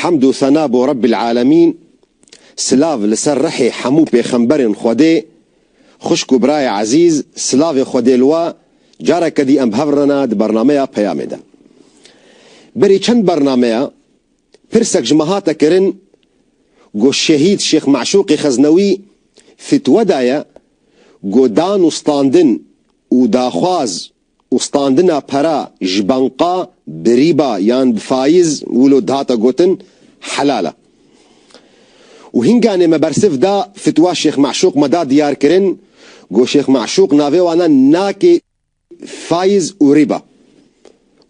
Hemd û sena bo Rebbîl Alemîn, silav li ser rihê hemû pêxemberên Xwedê, xwişk û birayê ezîz silavê Xwedê li we, careke dî em bi hev re ne di bernameya peyamê de. Berî çend bernameya pirsek ji me hate kirin ku Şehîd Şêx Meşûqê Xeznewî fîtwe daye ku dan û standin û daxwaz, û standina para ji banka bi rîba yan bi faiz wilo dihate gotin helal e û hînganê me bersiv da fitwa Şêx Meşûq me da diyar kirin got Şêx Meşûq navê wan e nakê faiz û rîba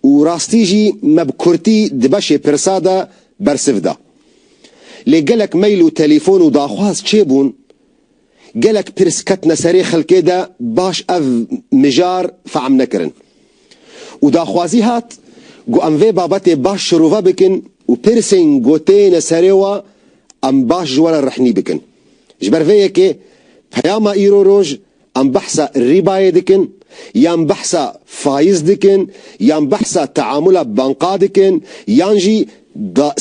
û rastî jî me bi kurtî di beşê pirsa de bersiv da. Lê gelek mail û telîfon û daxwaz çêbûn Gelek pirs ketine serê xelkê de baş ev mijar fehm nekirin û daxwazî hat ku em vê babetê baş şirove bikin û pirsên ku têne serê we em baş ji we re rihnî bikin. Ji ber vê yekê peyama îro roj em behsa rîbayê dikin yan behsa faiz dikin yan behsa teamula banka dikin yan jî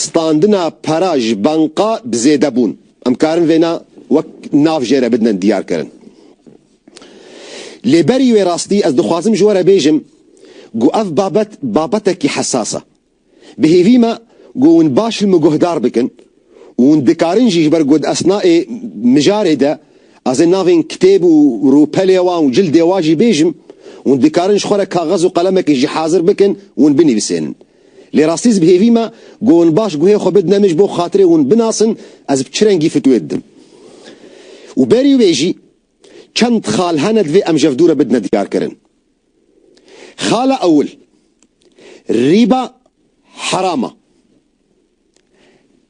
standina pera ji banka bi zêdebûn. Em karin vêna wek nav jê re bidnin diyarkirin. Lê berî wê rastî ez dixwazim ji we re bêjim ku ev babet babetekî hesas e. Bi hêvî me ku hûn baş li min guhdar bikin û hûn dikarin jî ji ber ku di esnayê mijarê de ez ê navên kitêb û rûpelê wan û cildê wan jî bêjim, hûn dikarin ji xwe re kaxez û qelemekê jî hazir bikin û hûn binivîsênin. Lê rastî ez bi hêvî me ku hûn baş guhê xwe bidine min ji bo xatirê hûn binasin ez bi çi rengî fitwê didim. Û berî wê jî çend xal hene divê em ji hev dû re bidine diyarkirin. Xala ewil, Rîba heram e.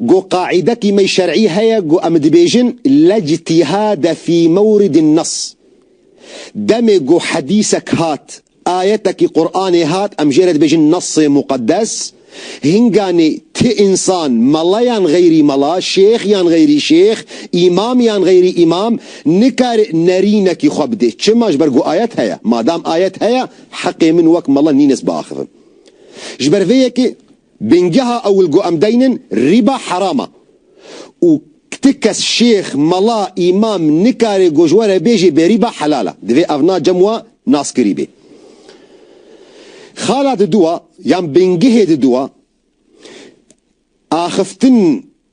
Go qaîdekî me şerî heye go em dibêjin lejtîhade fî mewridin nas. Demê go hedîsek hat, ayetekî Quranê hat em jê re dibêjin nasê muqeddes, hinganê ti însan, mela yan xeyrî mela, şêx yan xeyrî şêx, îmam yan xeyrî îmam, nikare nerînekî xwe bidê. Çima ji ber go ayet heye. Madam ayet heye heqê min wek mela nînes biaxivim. Ji ber vê yekê. Bingeha ewil ku em deynin rîba heram e û ti kes şêx, mela, îmam nikare ku ji we re bêje berîba helal e. Divê ev na cem wa naskirî bê. Xala di dû a yan bingehê di dû a axiftin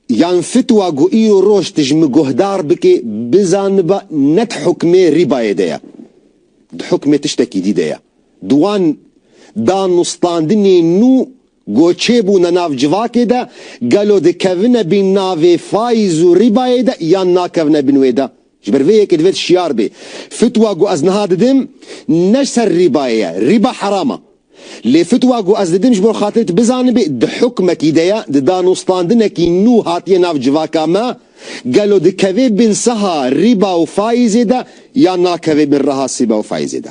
Yan fitwa ku îro roj tu ji min guhdar bikê bizaniba ne di hukmê rîbayê de ye. Di hukmê tiştekî dî de ye. Di wan danûstandinên nû ku çêbûne nav civakê de, gelo dikevine bin navê fayz û rîbayê de yan nakevine bin wê de? Ji ber vê yekê divêt şiyar bê, fitwa ku ez niha didim ne ji ser rîbayê ye, rîba heram e. Lê fitwa ku ez didim ji bo xatirê tu bizanibê, di hukmekî de ye, di danûstandinekî nû hatiye nav civaka me, gelo dikevê bin saha rîba û faîzê de yan nakevê bin reha sîba û faîzê de.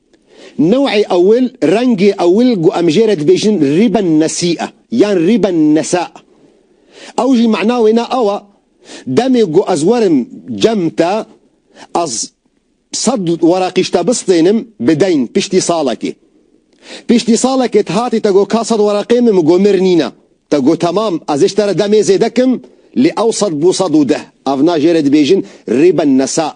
New'ê ewil, rengê ewil ku em jê re dibêjin rîben nesî e yan rîben nesa. Ew jî mana wê ne awa, demê ku ez werim cem te, ez sed weraqî ji te bistênim bi deyn piştî salekê. Piştî salekê tu hatî te got ka sed weraqê min, min got mir nîne. Te got temam, ez ê ji te re demê zêde kim, lê ew sed bû sed û deh. Ev na jê re dibêjin rîben nesa.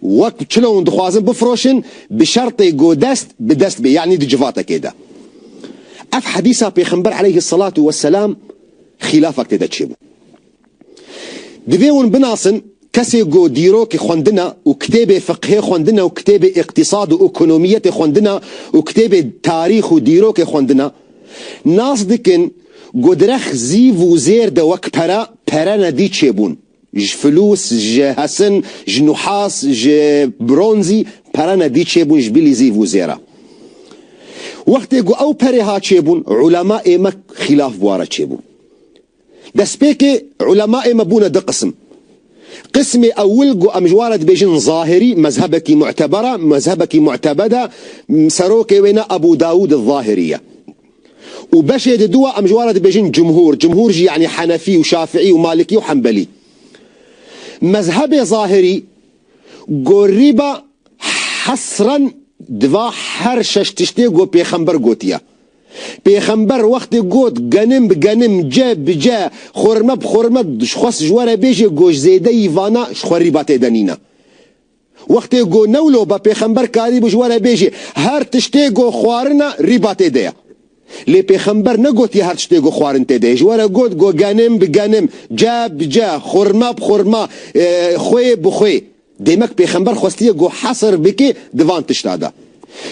Wek çile hûn dixwazin bifroşin bi şertê go dest bi dest bê yanî di civatekê de. Ev hedîsa Pêxember eleyhi selatu we selam xîlafek tê de çêbû. Divê hûn binasin kesê go dîrokê xwendina û kitêbê fiqhê xwendina û kitêbê îqtîsad û ekonomiyetê xwendina û kitêbê tarîx û dîrokê xwendina nas dikin go direk zîv û zêr de wek pere, pere nedî çêbûn. Ji flûs, ji hesin, ji nuhas, ji bronzî pere ne dî çêbûn ji bîlî zîv û zêra. Wextê ku ew perê ha çêbûn ulemaê me xîlaf bi wa re çêbûn. Destpêkê ulemaê me bûne di qism. Qismê ewil ku em ji wa re dibêjin zahirî, mezhebekî mu'teber e, mezhebekî mu'tebed e, serokê wê ne Ebû Dawûd el-Zahirî ye. Û beşê di dûa em ji wan re dibêjin cumhûr, cumhûr jî yanî henefî û şafiî û malikî û hembelî. Mezhebê zahirî gorrîba hesren di va her şeş tiştê ku pêxember gotiye. Pêxember wextê got genim bi genim, ce bi ce, xorime bi xorime dixwest ji we re bêje ku ji zêdeyî vana ji xwe rîba têde nîne. Wextê go newlo be pêxember karî bû ji we re bêjê her tiştê go xwarin e rîba tê de ye. Lê pêxember negotiye her tiştê go xwarin tê de ye. Ji we re got go genim bi genim, ce bi ce, xurma bi xurma, xwê bi xwê. Demek pêxember xwestiye go hesr bike di van tişta de.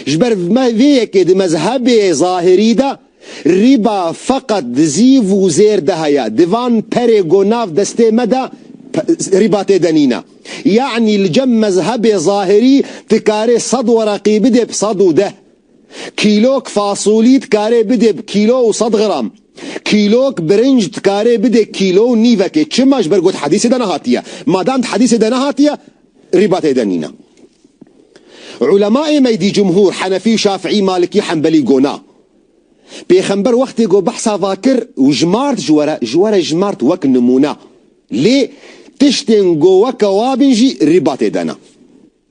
Ji ber vê yekê di mezhebê zahirî de Rîba feqet di zîv û zêr de heye. Di van perê ku nav destê me de rîba tê de nîne. Yanî li cem mezhebê zahirî tu karê sed wereqî bidê bi sed û deh. Kîlok fasolî tu karê bidê bi kîlo û sed gram. Kîlok birinc tu karê bidê kîlo û nîvekê. Çima? Ji ber ku di hedîsê de nehatiye. Madem di hedîsê de nehatiye, Rîbatê de nîne. Ulemaê meydî cumhûr, henefî, şafiî, malikî, henbelî gona. Pêxember wextê ku behsa va kir û jimart ji were, ji were jimart wek nimûne. Lê tiştên ku weke wa bin jî rîbatê de ne.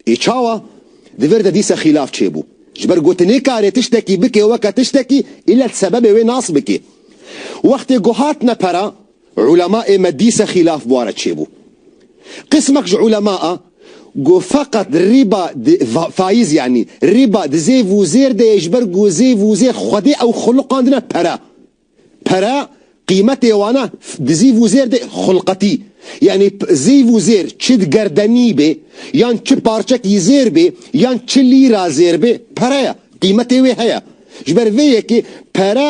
Ê çawa? Di vir de dîse xîlaf çêbû. Ji ber ku ti nêkarê tiştekî bikê weke tiştekî îllet sebebê wê nas bikê. Wextê ku hatine pere, Ulema ê me dîse xîlaf bi wan re çêbû. Qismek ji ulema a ku feqet riba di, faiz yanî, riba di zêv û zêr de ye ji ber ku zêv û zêr xwedê ew xulqandine pere. Pere qîmetê wan e di zîv û zêr de xulqetî. Yanî zêv û zêr çi di gerdenî bê yan çi parçekî zêr bê yan çi lîra zêr bê pere ye, qîmetê wê heye. Ji ber vê yekê pere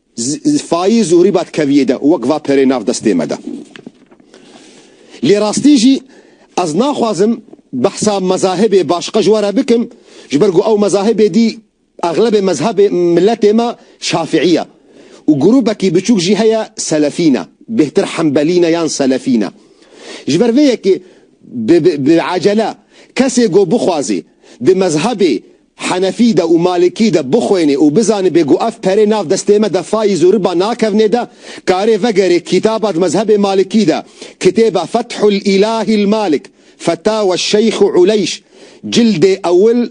Fayî Zuhrî ba dikeviyê de û wek va perê nav destê me de. Lê rastî jî ez naxwazim behsa mezahibê başqa ji we re bikim ji ber ku ew mezahibê dî exlebê mezhebê miletê me şafîî ye û grûbekî biçûk jî heye selefî ne, bêhtir hembelî ne yan selefî ne. Ji ber vê yekê bi bi ecele kesê ku bixwazê di mezhebê Henefî de û Malikî de bixwênê û bizanibê ku ev perê nav destê me de fayîz û riba nakevnê de, karê vegerê kîtaba di mezhebê Malikî de, Kitêba Fethul Îlahî'l Malik, Fetawa Şeyx Uleyş, cildê ewil,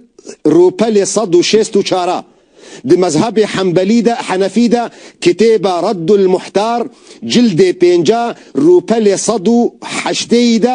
rûpelê sed û şêst û çar a. Di mezhebê Henbelî de, Henefî de, Kitêba Reddul Muhtar, cildê pênc a, rûpelê sed û heştê yî de,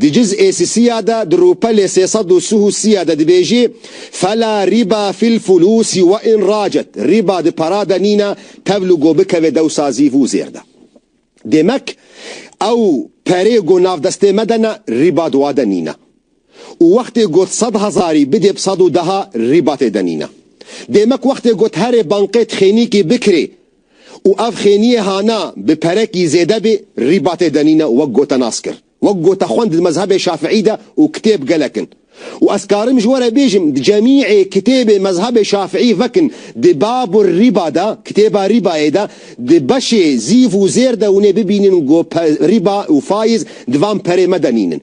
Di ciz ê sisiya de di rûpelê sê sed û sih û sî ye de dibêjî, Fela rîba fil fulûsi we in racet, rîba di para de nîne tevl û go bikeve dewsa zî vû zêr de. Demek ew perê go nav destê me de ne, rîba di wa de nîne. Û wextê got sed hezarî bidê bi sed û deha, rîba tê de nîne. Demek wextê got herê banqê tixênîkî bikirê, û ev xêniyê hana bi perekî zêde bê rîbatê denîne wek gote nas kir. Wek gote xwend di mezhebê Şafîî de û kitêb gelek in. Û ez karim ji we re bêjim di cemîê kitêbê mezhebê Şafîî vek in di Babu rîba de, kitêba rîbayê de, di beşê zîv û zêr de hûnê bibînin ku rîba û fayîz di van perê me denînin.